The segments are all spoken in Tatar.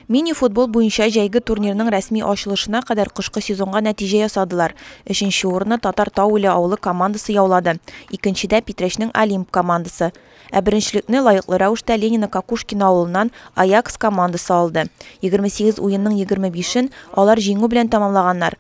Мини-футбол буенча җәйге турнирның рәсми ачылышына кадәр кышкы сезонга нәтиҗә ясадылар. Өченче урынны Татар Тау-Иле авылы командасы яулады, икенчедә, Питрәчнең Олимп командасы. Ә беренчелекне лаеклы рәвештә Ленино-Кокушкино авылыннан Аякс командасы алды. Егерме сигез уенның егерме бишен алар җиңү белән тәмамлаганнар.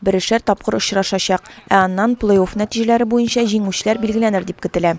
Берешәр тапкыр очрашачак, ә аннан плей-офф нәтиҗәләре буенча җиңүчеләр билгеләнер дип көтелә.